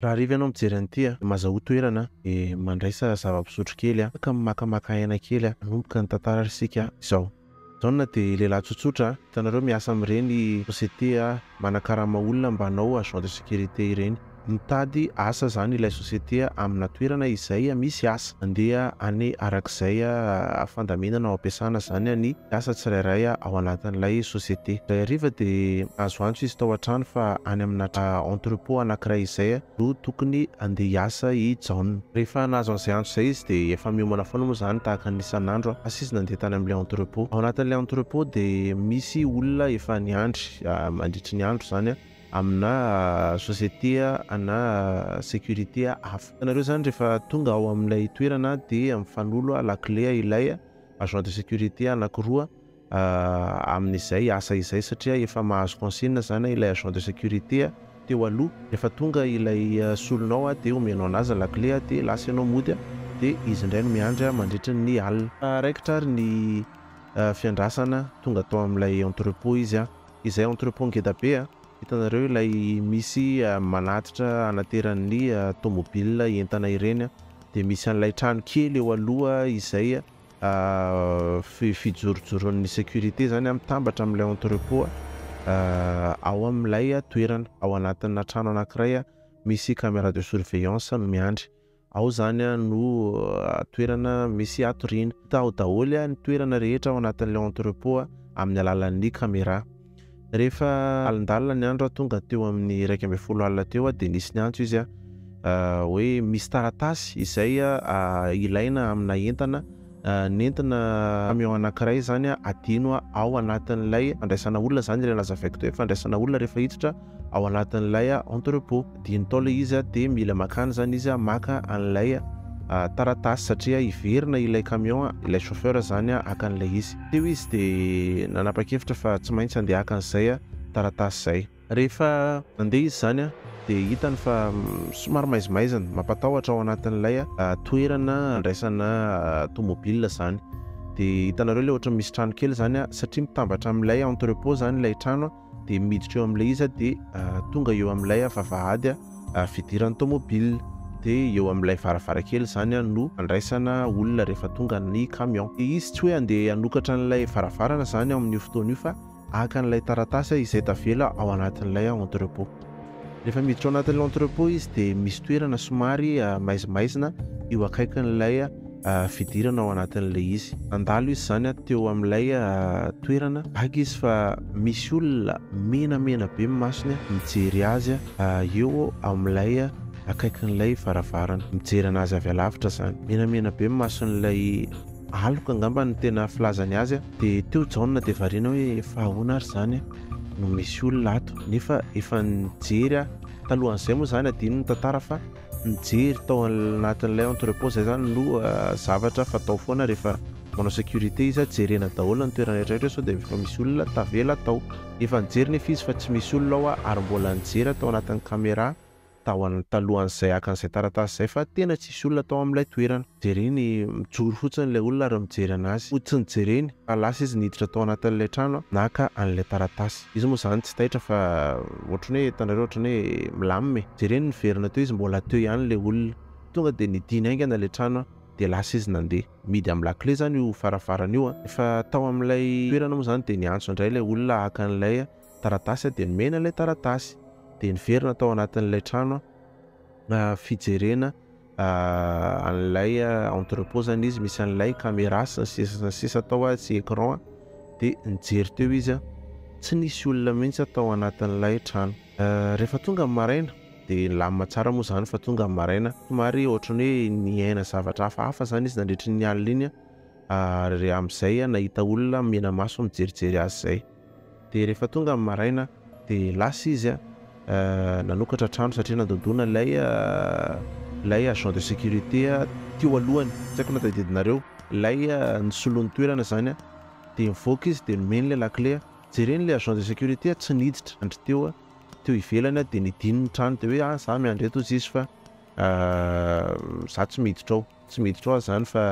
Raha hariva ianao mijery an'ity a, maza ho toerana dia mandraisa zava-pisotro kely a, ka mimakamaka aina kely a, hanomboka ny tantara ary isika izao. Jaona dia lehilahy tsotsotra a, hitanareo miasa amin'ireny société a, manakarama olona mba hanao agent de sécurité ireny. Mitady asa izany ilay société a, amina toerana izay misy asa. Andeha any araka izay fandaminana ho ampiasana izany ny mpiasa tsirairay ao anatin'ilay société. Indray hariva dia nahazo antso izy tao an-trano fa any amina entrepôt anankiray izay no tokony handeha hiasa i Jaona. Rehefa nahazo an'izay antso izay izy dia efa miomana foana moa izany tahaka ny isan'andro fa tsy izy nandeha tany amin'ilay entrepôt. Ao anatin'ilay entrepôt dia misy olona efa niandry mandritry ny andro izany. amina société na sécurité hafa. Ianareo izany rehefa tonga ao amin'ilay toerana dia mifanolo lakile ilay agent de sécurité anankiroa amin'izay asa izay satria efa mahazo consigne izany ilay agent de sécurité teo aloha. Rehefa tonga ilay solonao dia omenao an'azy ny lakile dia lasa ianao mody dia izy indray no miandry mandritra ny alina. Raha raikitra ary ny fiandrasana tonga tao amin'ilay entrepôt izy Izay entrepôt ngeda be a! Hitanareo ilay misy manatitra anateran'ny tomobil entana ireny a! Dia misy an'ilay trano kely eo aloha izay fijorojoron'ny sécurité izany a! Mitambatra amin'ilay entrepôt ao amin'ilay toerana, ao anatina trano anankiray misy camera de surveillance miandry. Ao zany no toerana misy hatoriana. Hita ao daholo ny toerana rehetra ao anatin'ilay entrepot amin'ny alalan'ny camera. Rehefa alindalina ny andro aho tonga teo amin'ny iraika ambin'ny folo alina teo dia nisy niantso izy hoe misy taratasy izay ilaina amina entana. nentina camion anankiray izany adino ao anatin'ilay fandraisana olona, izany ilay nazavaiko teo hoe fandraisana olona rehefa hiditra ao anatin'ilay entrepot, adino tao ilay izy dia mila makany izany izy maka an'ilay taratasy satria hiverina ilay camion, ilay chauffeur izany haka an'ilay izy, teo izy dia nanapa-kevitra fa tsy maintsy handeha haka an'izay taratasy izay. Rehefa nandeha izy izany dia hitany fa somary maizimaizina, mampatahotra ao anatin'ilay toerana andraisana tomobilina izany. Dia hitanareo ilay ohatran'ny misy trano kely izany satria mitambatra amin'ilay entrepot izany ilay trano dia miditra eo amin'ilay izy dia tonga eo amin'ilay vavahady fidiran'ny tomobilina. Dia eo amin'ilay varavarankely izany no andraisana olona rehefa tonga ny camion. Dia izy tsy hoe handeha hanokatra an'ilay varavarana izany amin'io fotoana io fa Haka an'ilay taratasy aho izay tavela ao anatin'ilay entrepot. Rehefa miditra ao anatin'ilay entrepot izy dia misy toerana somary maizimaizina eo akaikin'ilay fidirana ao anatin'ilay izy. Nandalo izy izany teo amin'ilay toerana vaky izy fa misy olona menamena be ny masony mijery azy eo amin'ilay akaikin'ilay varavarana. Mijery an'azy avy alavitra izany. Menamena be ny mason'ilay. aloka angamba no tena filazany azy a, dia teo Jaona dia variana hoe efa ahoana ary izany no misy olona ato, nefa efa nijery aho, talohan'izay moa izany adino ny tantara fa nijery tao anatin'ilay entrepôt izay izany no zavatra fatao foana rehefa manao sécurité izy a, jerena daholo ny toerana rehetra rehetra sao dia efa misy olona tavela tao, efa nijery nefa izy fa tsy misy olona ao ary mbola nijery tao anatin'ny camera. tao an talohan'izay haka an'izay taratasy izay fa tena tsisy olona tao amin'ilay toerana. Jereny mijoro fotsiny ilay olona ary mijery an'azy. Ho tsy nijereny fa lasa izy niditra tao anatin'ilay trano naka an'ilay taratasy. Izy moa izany tsy taitra fa ohatrany hoe hitanareo ohatrany hoe milamina e. Jereny niverina teo izy mbola teo ihany ilay olona. Tonga dia nidina haingana ilay trano dia lasa izy nandeha. Mihidy amin'ny lakile izany io faravarana io. Rehefa tao amin'ilay toerana moa izany dia niantso indray ilay olona haka an'ilay taratasy aho dia nomena ilay taratasy dia niverina tao anatin'ilay trano aho fijerena an'ilay entrepot zany izy misy an'ilay caméra sy ny sisa sy ny sisa tao aho sy écran dia nijery teo izy aho tsy nisy olona mihitsy aho tao anatin'ilay trano rehefa tonga ny maraina dia nilamina tsara moa izany fa tonga ny maraina somary ohatran'ny hoe niaina zavatra hafahafa izany izy nandritry ny alina iny ary amin'izay aho nahita olona mena maso mijerijery azy izay Dia rehefa tonga ny maraina dia lasa izy nanokatra trano satria nandondona ilay ilay agent de sécurité teo alohany, tsy haiko na tadidinareo, ilay nisolo ny toerana izany dia nivoaka izy dia nomeny ilay lakile, jereny ilay agent de sécurité tsy niditra nandry teo teo ivelany dia nidino ny trano dia hoe ah za miandry eto hoy izy fa Ahh za tsy miditra ao tsy miditra ao ah zany fa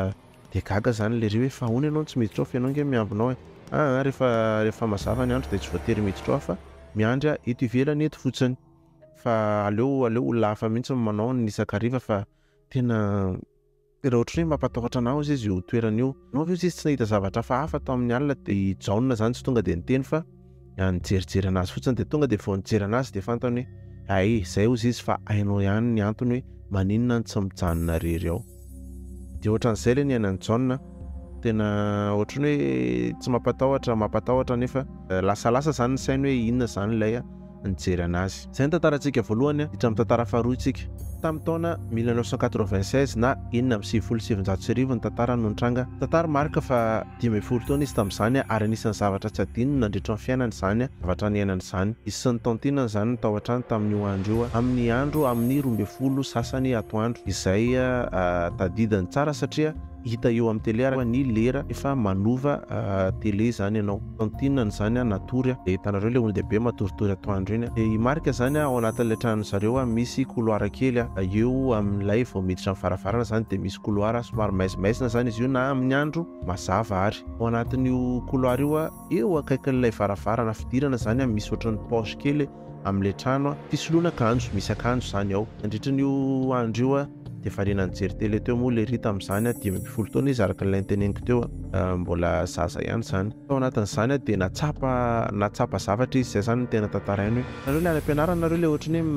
de gaga zany lery hoe fa ahoana ianao no tsy miditra ao fa ianao nge miambina ao e ahh refa refa mazava ny andro de tsy voatery miditra ao aho fa miandry aho eto ivelany eto fotsiny fa aleo aleo olona hafa mihitsy no manao ny isan-kariva fa tena Tena ohatry ny hoe mampatahotra anah ozy izy io toerana io. Anao ve ozy izy tsy nahita zavatra hafahafa tao amin'ny alina dia i Jaona izany tsy tonga dia niteny fa nijerijery anazy fotsiny dia tonga dia vao nijery anazy dia fantany hoe hay izay ozy izy fa hainao ihany ny antony hoe maninona no tsy mijanona rery ao. Dia ohatran'izay ilay niainan'i Jaona, tena ohatry ny hoe tsy mampatahotra, mampatahotra nefa lasalasa izany ny sainy hoe inona izany ilay a. nijery anazy. Izay ny tantarantsika voalohany hiditra amin'ny tantara faharoa isika. Tamin'ny taona mille neuf cent quatre-vingt-seize na enina amby sivifolo sy sivinjato sy arivo ny tantara no nitranga. Tantara marika fa dimy ambin'ny folo taona izy tamin'izany ary anisan'ny zavatra tsy adinony nandritra ny fiainany izany zavatra niainany izany. Izy sy ny taontinany izany no tao an-trano tamin'io andro io amin'ny andro amin'ny roa ambin'ny folo sasany atoandro izay tadidiny tsara satria Hita eo amin'ny tele ary ny lera efa manova tele izany ianao. Tantinany izany natory dia hitanareo ilay olon-dehibe matoritory atoandro iny. Dia i Marc izany ao anatin'ilay tranon'ny zareo misy couloir kely eo amin'ilay vao miditra ny varavarana izany dia misy couloir somary maizimaizina izany izy io na amin'ny andro mazava ary ao anatin'io couloir io Eo akaikin'ilay varavarana fidirana izany an, misy ohatran'ny poche kely amin'ilay trano an, fisoloana akanjo, misy akanjo izany ao. Nandritra an'io andro io an, dia variana nijery télé teo moa ilay Rita amin'izany an, dimy ambin'ny folo taona izy araka ilay niteneniko teo an, mbola zaza ihany izany. Tao anatin'izany an, dia nahatsapa, nahatsapa zavatra izy, izay izany no tena tantarainy hoe, nareo ilay any am-pianarana nareo ilay ohatran'ny hoe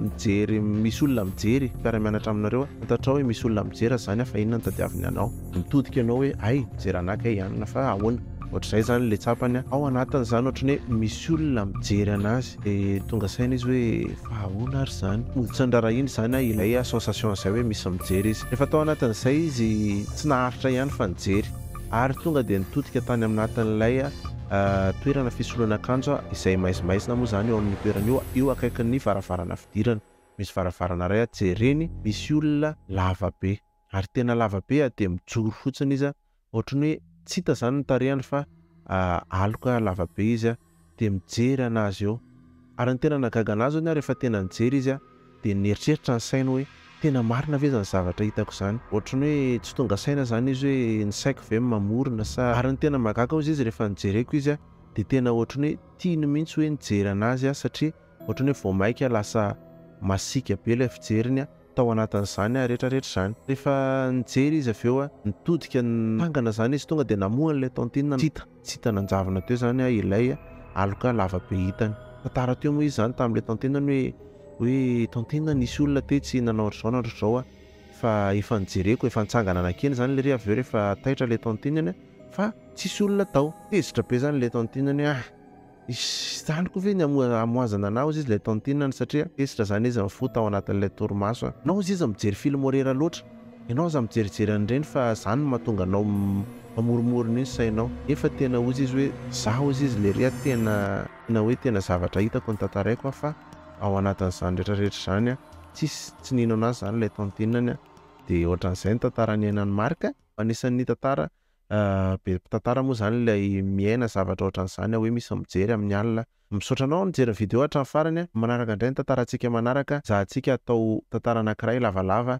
mijery, misy olona mijery, mpiara-mianatra aminareo an, fantatrao hoe misy olona mijery an, izany an, fa inona no tadiaviny anao. mitodika ianao hoe hay ze ranaka e ianona fa ahoana ohatr'izay zany le tsapany a, ao anatiny zany ohatry ny hoe misy olona mijery anazy de tonga saina izy hoe fa ahoana ary zany hoditra norarahiny zany a ilay association zay hoe misy mijery izy efa tao anatin'izay izy tsy naharitra ihany fa nijery ary tonga de nitodika tany aminatin'ilay toerana fisoloana akanjo a izay maizimaizina moa zany eo amin'io toerana io a eo akaikin'ny varavarana fidirana misy varavarana iray a jereny misy olona lava be Ary tena lava be a, dia mijoro fotsiny izy a, ohatran'ny hoe tsy hita izany ny tarehany fa aloka lava be izy a, dia mijery an'azy eo. Ary ny tena nahagaga an'azy hono a, rehefa tena nijery izy a, dia nieritreritra ny sainy hoe, tena marina ve izany zavatra hitako izany? Ohatran'ny hoe tsy tonga saina izany izy hoe, ny saiko ve no mamorona sa. Ary ny tena mahagaga hozy izy rehefa nojereko izy a, dia tena ohatran'ny hoe tiany mihitsy hoe nijery an'azy aho satria ohatran'ny hoe vao maika lasa masiaka be ilay fijeriny a, tao anatin'izany retraretra izany. Rehefa nijery izy avy eo, nitodika nitangana izany izy tonga dia namoha an'ilay tantine tsy hita tsy hita nanjavona teo izany ilay aloka lavabe hitany. Nitantara teo moa izy izany tamin'ilay tantine ny hoe hoe tantine nisy olona tetsy nanao an'izao na an'izao aho fa efa nijereko efa nitsangana nankeny izany lery avy eo rehefa taitra ilay tantine fa tsisy olona tao. Tezitra be izany ilay tantine hoe ah! Izany koa ve ny hamohazana anao aziza ilay tantinany satria tezitra izany izy ny fo tao anatin'ilay torimaso a! Ianao aziza mijery film horreur loatra, ianao aza mijerijery an'ireny fa izany no mahatonga anao mamoromorona io ny sainao nefa tena hoy izy hoe izaho aziza lery a tena tena hoe tena zavatra hitako no tantaraiko a fa ao anatin'izany rehetra rehetra izany a tsisy tsy nino anazy izany ilay tantinany a dia ohatran'izay ny tantara niainan'i Marc a fa anisan'ny tantara Be mpitantara moa izany ilay miaina zavatra ohatran'izany hoe misy mijery amin'ny alina. Misaotra anao nijery ny video hatramin'ny farany. Manaraka indray ny tantarantsika manaraka. Zahantsika atao tantara anankiray lavalava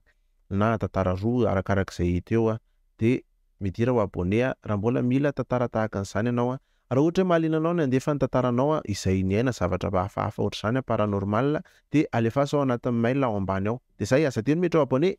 na tantara roa arakaraka izay hita eo dia midira ho abonné raha mbola mila tantara tahaka an'izany ianao. Raha ohatra hoe mahaliana anao ny handefa ny tantaranao izay niaina zavatra hafahafa ohatr'izany paranormal dia alefaso ao anatin'ny mail ao ambany ao. Dia izay, aza adino miditra ho abonné!